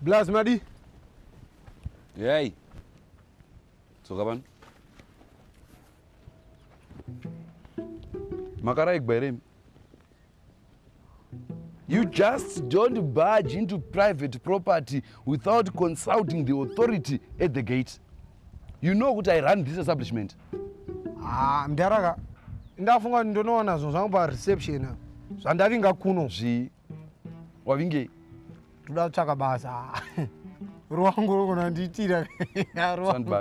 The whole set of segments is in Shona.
Blaz madi. Yay. Tsoka pano. Makaraigwa here? You just don't barge into private property without consulting the authority at the gate. You know what I run this establishment. Ah, mdaraka. Ndafunga kuti ndonoona zvinhu zvangu pa reception. Zvandavinga kuno zvi wavinge toda kutsvaka basa. Ruwangu rokona ndiitira. Ruwangu.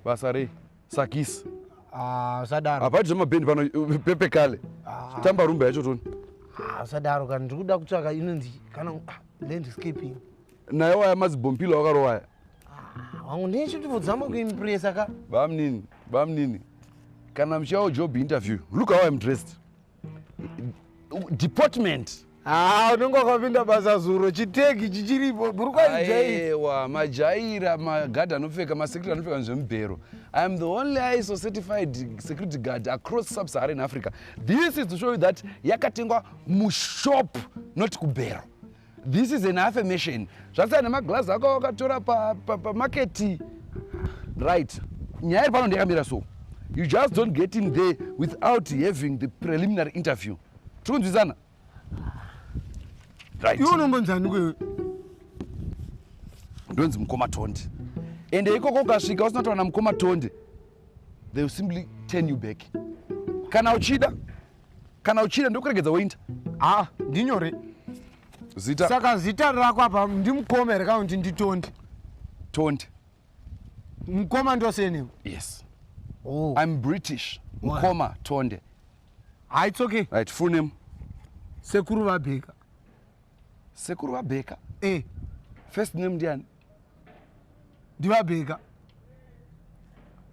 Basa rei? sakisi Ah, usadaro hapati zvemabhendi pano uh, pepe kale Ah. tamba rumba yacho toni Ah, usadaro kana ndiri kuda kutsvaka inonzi kana ah, landscaping naye waya mazibhompilo wakarowaya Ah, wangu ndine chituvo dzamba kuimpresa ka bamnini bamnini kana muchiyawo job interview look how im dressed department haa ah, unenge wakapinda basa zuro chiteki chichiripo burukwaiewa majaira magard anopfeka masecurity anopfeka nezvemubhero i am the only iso certified security guard across subsaharan africa this is to show you that yakatengwa mushop not kubhero This is an affirmation. Zvasiyana nemaglass ako wakatora pamarket. Pa, pa right. Nyaya iri pano ndiyakamira so. You just don't get in there without having the preliminary interview. Tiri kunzwisana? Right. Iwe unombonzani kwewe? Ndonzi mukoma Tonde. Ende ikoko ukasvika usina kutowana mukoma Tonde. They will simply turn you back. Kana uchida kana uchida ndokuregedza woinda ha ndinyore zita saka zita rako apa ndimukoma here kana kuti nditondi tondi mukoma ndosenim yes oh. i'm british mukoma tonde ha its okay right full name sekuru vabheka sekuru vabheka e eh. first name ndiani ndivabheka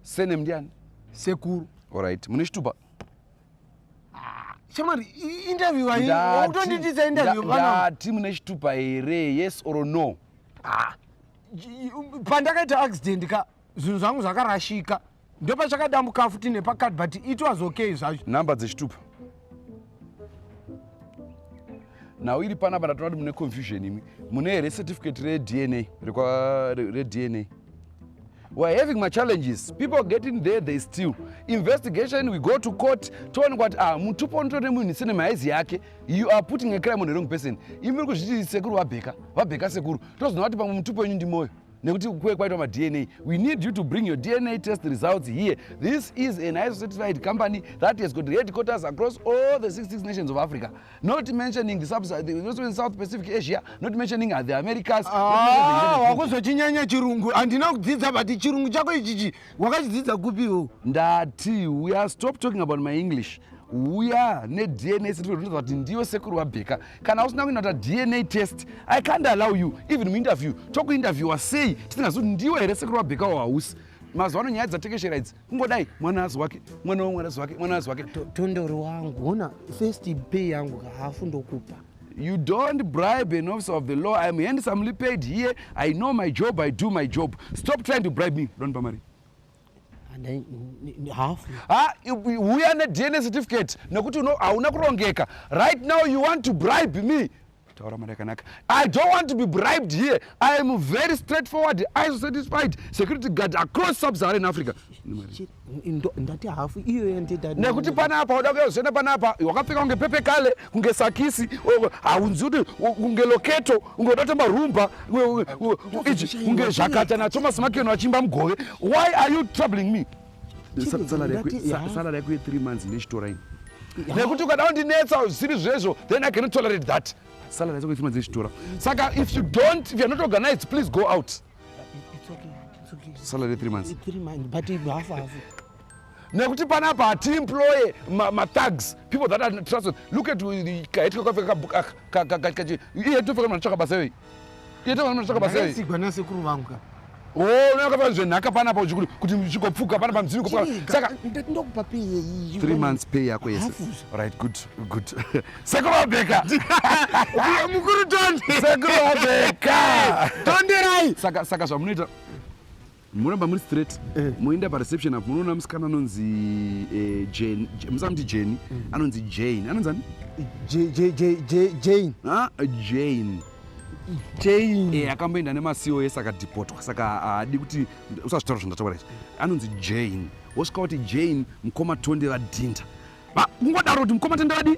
senem ndiani sekuru allright mune chitupa shamwari interview autonditisa interview ndati mune chitupa here yes or no ah, pandakaita accident ka zvinhu zvangu zvakarashika ndopachakadambuka futi nepakati but it was okay zvacho number dzechitupa nhau iri panapa ndatoona kuti mune confusion imi mune here certificate redna redna we're having machallenges people getting there they still investigation we go to court toonekwa kuti ah mutupo unoto nemunhu sine mahaizi yake you are putting a crime on the wrong person imi muri kuzviti sekuru vabheka vabheka sekuru tozoona kuti pamwe mutupo wenyu ndimoyo nekuti kuve kwaitwa madna we need you to bring your dna test results here this is an iso certified company that has got headquarters across all the 66 nations of africa not mentioning south pacific asia not mentioning the americas ah, wakuzochinyanya chirungu handina kudzidza but chirungu chako ichichi wakachidzidza kupiwo ndati we are stop talking about my english uya nedna sitikuti kuti ndiyo sekuru wabheka kana usina kuenda kuta dna test i can't allow you even muinterview tokuinterviewa sei tisingazi kuti ndiwe here sekuru wabheka wahausi mazuva ano nyaya dzatekeshera idzi kungodai mwana azi wake mwana wamwana azi wake mwana azi wake tondori wangu hona first pay yangu kahafu ndokupa you don't bribe an officer of the law i am handsomely paid here i know my job i do my job stop trying to bribe me don't bamari huya nedna certificate nekuti hauna kurongeka right now you want to bribe me taura mari yakanaka i don't want to be bribed here i am very straight forward iso satisfied security guard across subsaharan africa ndati hafu iyo nekuti pana apa uda kuyazoenda pana apa wakapfeka kunge pepe kale kunge sakisi haunzi kuti kunge loketo kunge uda kutemba rumba kunge zvakata nathomas makeno achiimba mugove why are you troubling me salary yako ye3 months nechitora ini nekuti ukada kundinetsa zvisiri zvezvo then i cannot tolerate that salary yako ye3 months nechitora saka if you don't if you're not organized please go out salary ye3 months nekuti panapa hatiemploye mathags people that are trusted look at kahetwe kafeka kabukaka ihetofeka manatsvaka basa iyoyi Yete vana mashaka basa hii. Sigwa na sekuru vangu ka. Oh, unaka pa zvenhaka pana pa uchikuri kuti uchikopfuka pana pa mzini kopfuka. Saka ndokupa pay yeyi. 3 months pay yako yese. Right, good, good. Sekuru Abeka. Uya mukuru tonde. Sekuru Abeka. Tonde rai. Saka saka zvamunoita Muramba muri straight eh. moenda pareception apo munoona musikana anonzi eh, Jane, musamuti Jane, eh. anonzi Jane, anonzi ani? Jane. Ah, Jane. Jane. Eh, akamboenda nemasiwo ese akadhipotwa saka haadi kuti usazvitaura zvandataura izvi. Anonzi Jane. Wosvika kuti Jane mukoma Tonde vadhinda. Kungodaro kuti mukoma Tonde vadii?